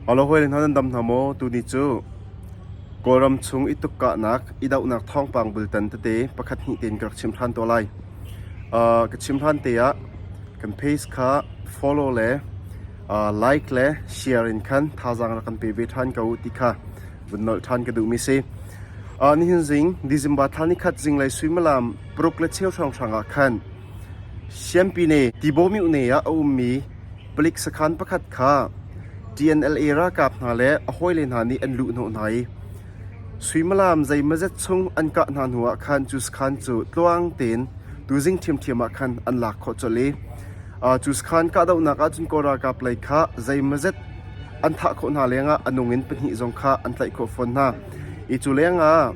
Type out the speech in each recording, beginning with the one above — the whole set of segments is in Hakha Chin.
Holhoil hna nan dam hna maw? Tuni cu Kawlram chung i tuk kahnak, i dohnak thawngpang bultan tete pakhat hnih tein ka rak chim hlan te lai. Uh, ka chim hlan te ah kan page kha follow le uh, like le share in khan thazaang rak kan pe ve ṭhan ko ti kha vun nolh ṭhan ka duhmi si. Uh, nihin zing December thla ni khat zinglei suimilam paruk le cheu hrawnghrang ah khan Siampine Tibawmyune ah a ummi Palik sakhaan pakhat kha TNLA ralkap hna le a hawile hna nih an luhhnawh hna i suimilam zeimawzet chung an kah hna hnuah khan cu sakhaan cu tluang tein tuzing ṭhiamṭhiam ah khan an lak khawh colh i cu sakhaan kahdohnak ahcun Kawl ralkap lei kha zeimawzet an thah khawh hna lengah a nung in pahnih zong kha an tlaih khawh fawn hna i cu lengah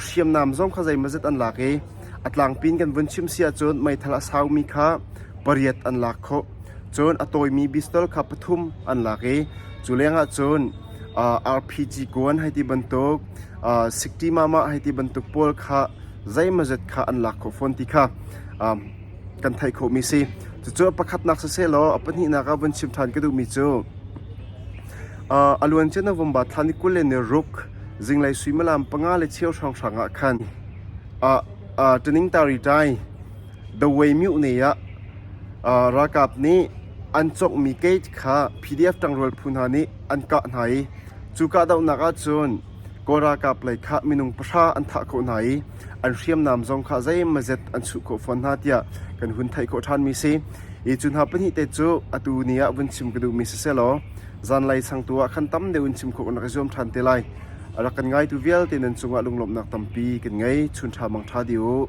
hriamnam zong kha zeimawzet an lak i A tlangpi in kan vun chimh si ahcun meithal a saumi kha pariat an lak khawh. Cun a tawimi pistol kha pathum an lak i cu lengah cun RPG kuan hei ti bantuk, sikṭi mamah hei ti bantuk pawl kha zeimazet kha an lak khawh fawn ti kha kan theih khawhmi si. Cucu a pakhatnak sisehlaw a pahnihnak ah vun chim ṭhan ka duhmi cu a luancia November thla ni kul le ni ruk zinglei suimilam panga le cheu hrawnghrang ah khan Aa ṭaning ta rih ṭai. Dawei mioh ne ah ralkap nih an cawkmi gate kha PDF ṭangrual phu hna nih an kah hna i cu kahdohnak ahcun Kawl ralkap lei kha minung pahra an thah khawh hna i an hriamnam zong kha zeimazet an chuh khawh fawn hna tiah kan hun theih khawh ṭhanmi a si. Hi cu hna pahnih te cu atu ni ah vun chim ka duhmi si sehlaw zanlei changtu ah khan tam deuh in chim khawh kan rak i zuam ṭhan te lai. A rak kan ngaitu vialte nan cungah lunglawmhnak tampi kan ngei. Chun ṭha mang ṭha dih u.